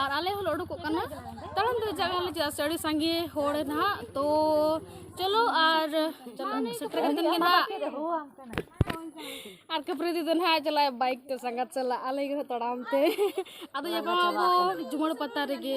ᱟᱨ ᱟᱞᱮ ᱦᱚᱸᱞᱮ ᱩᱰᱩᱠᱚᱜ ᱠᱟᱱᱟ ᱛᱟᱲᱟᱢ ᱫᱚ ᱡᱟᱭᱜᱟ ᱞᱮ ᱪᱮᱫᱟᱜ ᱥᱮ ᱟᱹᱰᱤ ᱥᱟᱸᱜᱮ ᱦᱚᱲ ᱱᱟᱦᱟᱜ ᱛᱚ ᱪᱚᱞᱚ ᱟᱨ ᱥᱮᱴᱮᱨ ᱠᱟᱛᱮᱫ ᱜᱮ ᱱᱟᱦᱟᱜ ᱟᱨ ᱠᱟᱹᱯᱨᱤ ᱫᱤᱫᱤ ᱱᱟᱦᱟᱜ ᱪᱟᱞᱟᱜᱼᱟ ᱵᱟᱭᱤᱠ ᱛᱮ ᱥᱟᱸᱜᱟᱛ ᱪᱟᱞᱟᱜ ᱟᱞᱮ ᱜᱮ ᱛᱟᱲᱟᱢ ᱛᱮ ᱟᱫᱚ ᱧᱟᱯᱟᱢ ᱟᱵᱚ ᱡᱩᱢᱟᱹᱲ ᱯᱟᱛᱟ ᱨᱮᱜᱮ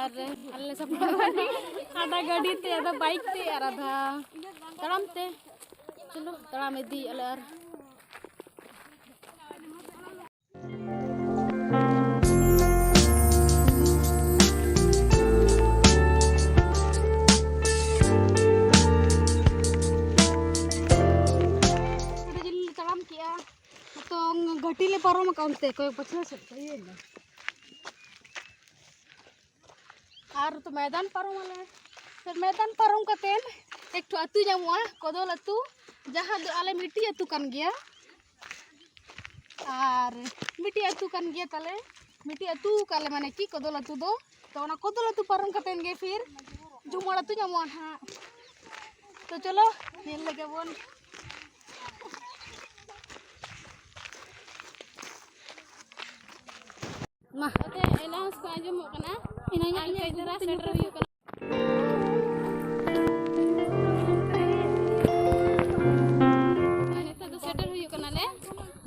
ᱟᱨ ᱟᱞᱮ ᱞᱮ ᱥᱟᱯᱲᱟᱣ ᱟᱫᱷᱟ ᱜᱟᱹᱰᱤ ᱛᱮ ᱟᱫᱷᱟ ᱵᱟᱭᱤᱠ ᱛᱮ ᱟᱨ ᱟᱫᱷᱟ ᱛᱟᱲᱟᱢ ᱛᱮ ᱪᱚᱞᱚ ᱛᱟᱲᱟᱢ ᱤᱫᱤᱭᱮᱫ ᱟᱞᱮ ᱟᱨ ᱛᱟᱲᱟᱢ ᱠᱮᱜᱼᱟ ᱛᱚ ᱜᱷᱟᱹᱴᱤ ᱞᱮ ᱯᱟᱨᱚᱢ ᱟᱠᱟᱫ ᱚᱱᱛᱮ ᱠᱚᱭᱚᱜ ᱯᱟᱪᱷᱞᱟ ᱥᱮᱫ ᱛᱮ ᱤᱭᱟᱹ ᱮᱱᱟ ᱟᱨ ᱛᱚ ᱢᱚᱭᱫᱟᱱ ᱯᱟᱨᱚᱢ ᱟᱞᱮ ᱯᱷᱤᱨ ᱢᱚᱭᱫᱟᱱ ᱯᱟᱨᱚᱢ ᱠᱟᱛᱮᱫ ᱮᱠᱴᱩ ᱟᱹᱛᱩ ᱧᱟᱢᱚᱜᱼᱟ ᱠᱚᱫᱚᱞ ᱟᱹᱛᱩ ᱡᱟᱦᱟᱸ ᱫᱚ ᱟᱞᱮ ᱢᱤᱫᱴᱤᱡ ᱟᱹᱛᱩ ᱠᱟᱱ ᱜᱮᱭᱟ ᱟᱨ ᱢᱤᱫᱴᱤᱡ ᱟᱹᱛᱩ ᱠᱟᱱ ᱜᱮᱭᱟ ᱛᱟᱞᱮ ᱢᱤᱫᱴᱤᱡ ᱟᱹᱛᱩ ᱠᱟᱜ ᱞᱮ ᱢᱟᱱᱮ ᱠᱤ ᱠᱚᱫᱚᱞ ᱟᱹᱛᱩ ᱫᱚ ᱛᱚ ᱚᱱᱟ ᱠᱚᱫᱚᱞ ᱟᱹᱛᱩ ᱯᱟᱨᱚᱢ ᱠᱟᱛᱮᱫ ᱜᱮ ᱯᱷᱤᱨ ᱡᱩᱢᱚᱲ ᱟᱹᱛᱩ ᱧᱟᱢᱚᱜᱼᱟ ᱱᱟᱦᱟᱜ ᱛᱚ ᱪᱚᱞᱚ ᱧᱮᱞ ᱞᱮᱜᱮ ᱵᱚᱱ ᱢᱟ ᱮᱞᱟᱣᱩᱱᱥ ᱠᱚ ᱟᱸᱡᱚᱢᱚᱜ ᱠᱟᱱᱟ ᱤᱱᱟᱹᱧ ᱟᱨ ᱠᱟᱹᱡ ᱫᱷᱟᱨᱟ ᱥᱮᱴᱮᱨ ᱦᱩᱭᱩᱜ ᱠᱟᱱᱟ ᱱᱤᱛᱚᱜ ᱫᱚ ᱥᱮᱴᱮᱨ ᱦᱩᱭᱩᱜ ᱠᱟᱱᱟᱞᱮ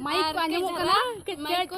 ᱢᱟᱭᱤᱠ ᱠᱚ ᱟᱸᱡᱚᱢᱚᱜ ᱠᱟᱱᱟ ᱢᱟᱭᱤᱠ ᱠᱚ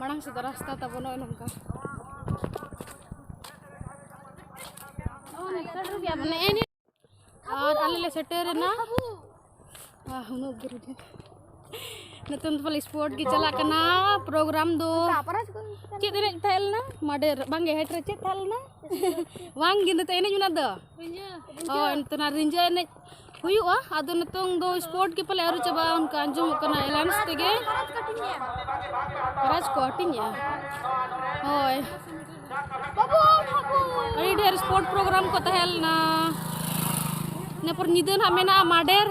ᱢᱟᱲᱟᱝ ᱥᱮᱫ ᱨᱟᱥᱛᱟ ᱛᱟᱵᱚᱱ ᱱᱚᱜᱼᱚᱭ ᱱᱚᱝᱠᱟ ᱟᱨ ᱟᱞᱮ ᱞᱮ ᱥᱮᱴᱮᱨᱮᱱᱟ ᱩᱱᱟᱹᱜ ᱫᱩᱨ ᱜᱮ ᱱᱤᱛᱚᱝ ᱫᱚ ᱯᱟᱞᱮ ᱥᱯᱳᱨᱴ ᱜᱮ ᱪᱟᱞᱟᱜ ᱠᱟᱱᱟ ᱯᱨᱳᱜᱨᱟᱢ ᱫᱚ ᱪᱮᱫ ᱮᱱᱮᱡ ᱛᱟᱦᱮᱸ ᱞᱮᱱᱟ ᱢᱟᱰᱮᱨ ᱵᱟᱝᱜᱮ ᱦᱮᱴ ᱨᱮ ᱪᱮᱫ ᱛᱟᱦᱮᱸ ᱞᱮᱱᱟ ᱵᱟᱝᱜᱮ ᱱᱤᱛᱚᱜ ᱮᱱᱮᱡ ᱢᱮᱱᱟᱜ ᱫᱚ ᱦᱳᱭ ᱱᱤᱛᱚᱜ ᱱᱟᱜ ᱨᱤᱸᱡᱷᱟᱹ ᱮᱱᱮᱡ ᱦᱩᱭᱩᱜᱼᱟ ᱟᱫᱚ ᱱᱤᱛᱚᱝ ᱫᱚ ᱥᱯᱳᱨᱴ ᱜᱮ ᱯᱟᱞᱮ ᱟᱹᱣᱨᱤ ᱪᱟᱵᱟᱜᱼᱟ ᱚᱱᱠᱟ ᱟᱸᱡᱚᱢᱚᱜ ᱠᱟᱱᱟ ᱮᱞᱟᱱᱥ ᱛᱮᱜᱮ ᱯᱨᱟᱭᱤᱡᱽ ᱠᱚ ᱦᱟᱹᱴᱤᱧᱮᱜᱼᱟ ᱦᱳᱭ ᱟᱹᱰᱤ ᱰᱷᱮᱨ ᱥᱯᱳᱨᱴ ᱯᱨᱳᱜᱨᱟᱢ ᱠᱚ ᱛᱟᱦᱮᱸ ᱞᱮᱱᱟ ᱤᱱᱟᱹ ᱯᱚᱨ ᱧᱤᱫᱟᱹ ᱱᱟᱜ ᱢᱮᱱᱟᱜᱼᱟ ᱢᱟᱰᱮᱨ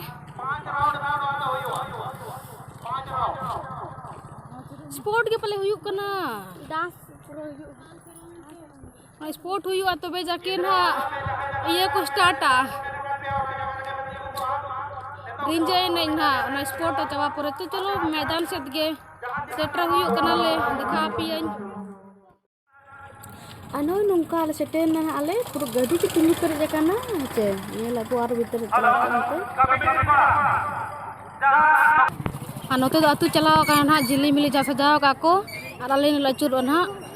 ᱥᱯᱳᱨᱴ ᱜᱮ ᱯᱟᱞᱮ ᱦᱩᱭᱩᱜ ᱠᱟᱱᱟ ᱰᱟᱱᱥ ᱯᱩᱨᱟᱹ ᱦᱩᱭᱩᱜᱼᱟ ᱥᱯᱳᱨᱴ ᱦᱩᱭᱩᱜᱼᱟ ᱛᱚᱵᱮ ᱡᱟᱠᱮ ᱱᱟᱜ ᱤᱭᱟᱹ ᱠᱚ ᱥᱴᱟᱨᱴᱟ ᱨᱤᱸᱡᱟᱹ ᱮᱱᱮᱡ ᱱᱟᱜ ᱚᱱᱟ ᱥᱯᱳᱨᱴ ᱪᱟᱵᱟ ᱯᱚᱨᱮ ᱛᱚ ᱪᱚᱞᱚ ᱢᱚᱭᱫᱟᱱ ᱥᱮᱫ ᱜᱮ ᱥᱮᱴᱮᱨ ᱦᱩᱭᱩᱜ ᱠᱟᱱᱟᱞᱮ ᱫᱮᱠᱷᱟ ᱟᱯᱮᱭᱟᱹᱧ ᱟᱨ ᱱᱚᱜᱼᱚᱭ ᱱᱚᱝᱠᱟ ᱟᱞᱮ ᱥᱮᱴᱮᱨ ᱮᱱᱟ ᱱᱟᱜ ᱟᱞᱮ ᱯᱩᱨᱟᱹ ᱜᱟᱹᱰᱤ ᱜᱮ ᱛᱤᱸᱜᱩ ᱯᱮᱨᱮᱡ ᱟᱠᱟᱱᱟ ᱦᱮᱸᱪᱮ ᱧᱮᱞ ᱟᱵᱚ ᱟᱨ ᱵᱷᱤᱛᱨᱤ ᱪᱟᱞᱟᱣ ᱠᱟᱱᱛᱮ ᱟᱨ ᱱᱚᱛᱮ ᱫᱚ ᱟᱹᱛᱩ ᱪᱟᱞᱟᱣ ᱟᱠᱟᱱᱟ ᱱᱟᱜ ᱡᱤᱞᱤᱢᱤᱞᱤ ᱡᱟ ᱥᱟᱡᱟᱣ ᱟᱠᱟᱫ ᱠᱚ ᱟᱨ ᱟᱞᱮ ᱞᱮ ᱟᱹᱪᱩᱨᱚᱜᱼᱟ ᱱᱟᱜ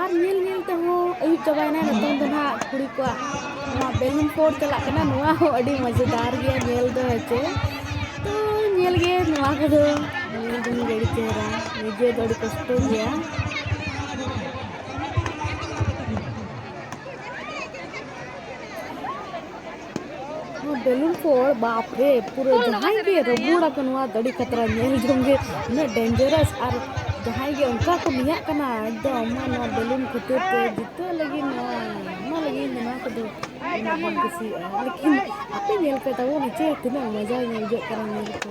ᱟᱨ ᱧᱮᱞ ᱧᱮᱞ ᱛᱮᱦᱚᱸ ᱟᱹᱭᱩᱵ ᱪᱟᱵᱟᱭᱮᱱᱟ ᱱᱤᱛᱚᱝ ᱫᱚ ᱱᱟᱦᱟᱜ ᱠᱩᱲᱤ ᱠᱚᱣᱟᱜ ᱱᱚᱣᱟ ᱵᱮᱞᱩᱱ ᱯᱳᱲ ᱪᱟᱞᱟᱜ ᱠᱟᱱᱟ ᱱᱚᱣᱟ ᱦᱚᱸ ᱟᱹᱰᱤ ᱢᱚᱡᱮᱫᱟᱨ ᱜᱮᱭᱟ ᱧᱮᱞ ᱫᱚ ᱦᱮᱸᱪᱮ ᱛᱚ ᱧᱮᱞ ᱜᱮ ᱱᱚᱣᱟ ᱠᱚᱫᱚ ᱧᱮᱞ ᱡᱚᱝ ᱜᱮ ᱟᱹᱰᱤ ᱪᱮᱦᱨᱟ ᱱᱤᱡᱮ ᱫᱚ ᱟᱹᱰᱤ ᱠᱚᱥᱴᱚ ᱜᱮᱭᱟ ᱵᱮᱞᱩᱱ ᱠᱚ ᱵᱟᱯ ᱨᱮ ᱯᱩᱨᱟᱹ ᱡᱟᱦᱟᱸᱭ ᱜᱮ ᱨᱟᱹᱵᱩᱲ ᱟᱠᱚ ᱱᱚᱣᱟ ᱫᱟᱹᱰᱤ ᱠᱷᱟᱛᱨᱟ ᱧᱮᱞ ᱡᱚᱝ ᱜᱮ ᱩᱱᱟᱹᱜ ᱰᱮᱧᱡᱟᱨᱟᱥ ᱟᱨ ᱡᱟᱦᱟᱸᱭ ᱜᱮ ᱚᱱᱠᱟ ᱠᱚ ᱢᱮᱭᱟᱜ ᱠᱟᱱᱟ ᱮᱠᱫᱚᱢ ᱱᱚᱣᱟ ᱵᱮᱞᱩᱱ ᱠᱷᱟᱹᱛᱤᱨ ᱛᱮ ᱡᱤᱛᱟᱹᱣ ᱞᱟᱹᱜᱤᱫ ᱱᱚᱣᱟ ᱚᱱᱟ ᱞᱟᱹᱜᱤᱫ ᱱᱚᱣᱟ ᱠᱚᱫᱚ ᱟᱭᱢᱟ ᱵᱚᱱ ᱠᱩᱥᱤᱭᱟᱜᱼᱟ ᱞᱮᱠᱤᱱ ᱟᱯᱮ ᱧᱮᱞ ᱯᱮ ᱛᱟᱵᱚᱱ ᱱᱤᱪᱮ ᱛᱤᱱᱟᱹᱜ ᱢᱚᱡᱟ ᱧᱮᱞ ᱡᱚᱜ ᱠᱟᱱᱟ ᱧᱮᱞ ᱠᱚ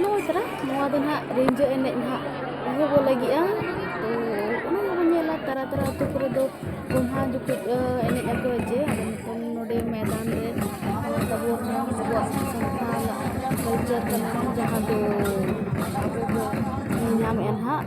ᱱᱚᱜᱼᱚᱭ ᱛᱟᱨᱟ ᱱᱚᱣᱟ ᱫᱚ ᱱᱟᱦᱟᱜ ᱨᱤᱸᱡᱷᱟᱹ ᱮᱱᱮᱡ ᱱᱟᱦᱟᱜ ᱮᱦᱚᱵᱚᱜ ᱞᱟᱹᱜᱤᱫᱼᱟ ᱛᱚ ᱚᱱᱟ ᱜᱮᱵᱚᱱ ᱧᱮᱞᱟ ᱛᱟᱨᱟ ᱛᱟᱨᱟ ᱟᱹᱛᱩ ᱠᱚᱨᱮ ᱫᱚ ᱜᱚᱢᱦᱟ ᱡᱚᱠᱷᱚᱡ ᱮᱱᱮᱡ ᱟᱠᱚ ᱡᱮ ᱟᱫᱚ ᱱᱤᱛᱚᱝ ᱱᱚᱰᱮ ᱢᱚᱭᱫᱟᱱ ᱨᱮ ᱟᱵᱚ ᱟᱵᱚᱣᱟᱜ ᱥᱟᱱᱛᱟᱞ ᱠᱟᱞᱪᱟᱨ ᱠᱟᱱᱟ ᱡᱟᱦᱟᱸ ᱫᱚ ᱟᱵᱚ ᱵᱚᱱ ᱧᱮᱞ ᱧᱟᱢᱮᱫᱼᱟ ᱱᱟᱦᱟᱜ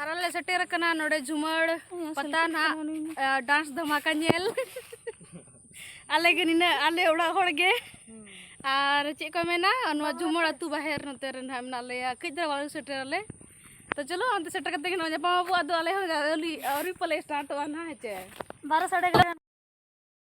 ᱟᱨ ᱟᱞᱮ ᱥᱮᱴᱮᱨ ᱟᱠᱟᱱᱟ ᱱᱚᱰᱮ ᱡᱷᱩᱢᱟᱹᱲ ᱯᱟᱛᱟ ᱱᱟᱜ ᱰᱟᱱᱥ ᱫᱷᱟᱢᱟᱠᱟ ᱧᱮᱞ ᱟᱞᱮ ᱜᱮ ᱱᱤᱱᱟᱹᱜ ᱟᱞᱮ ᱚᱲᱟᱜ ᱦᱚᱲ ᱜᱮ ᱟᱨ ᱪᱮᱫ ᱠᱚ ᱢᱮᱱᱟ ᱱᱚᱣᱟ ᱡᱷᱩᱢᱟᱹᱲ ᱟᱹᱛᱩ ᱵᱟᱦᱮᱨ ᱱᱚᱛᱮ ᱨᱮ ᱱᱟᱜ ᱢᱮᱱᱟᱜ ᱞᱮᱭᱟ ᱠᱟᱹᱡ ᱫᱷᱟᱨᱟ ᱵᱟᱞᱮ ᱥᱮᱴᱮᱨ ᱟᱞᱮ ᱛᱚ ᱪᱚᱞᱚ ᱚᱱᱛᱮ ᱥᱮᱴᱮᱨ ᱠᱟᱛᱮ ᱜᱮ ᱱᱚᱜᱼᱚᱭ ᱧᱟᱯᱟᱢ ᱟᱵᱚ ᱟᱫᱚ ᱟᱞᱮ ᱦᱚᱸ ᱟᱹᱣᱨᱤ ᱟᱹᱣᱨᱤ ᱯᱟᱞᱮ ᱥᱴᱟᱨᱴᱚᱜᱼᱟ ᱱᱟᱜ ᱦᱮᱸ ᱪᱮ ᱵᱟᱨᱚ ᱥᱟᱲᱮ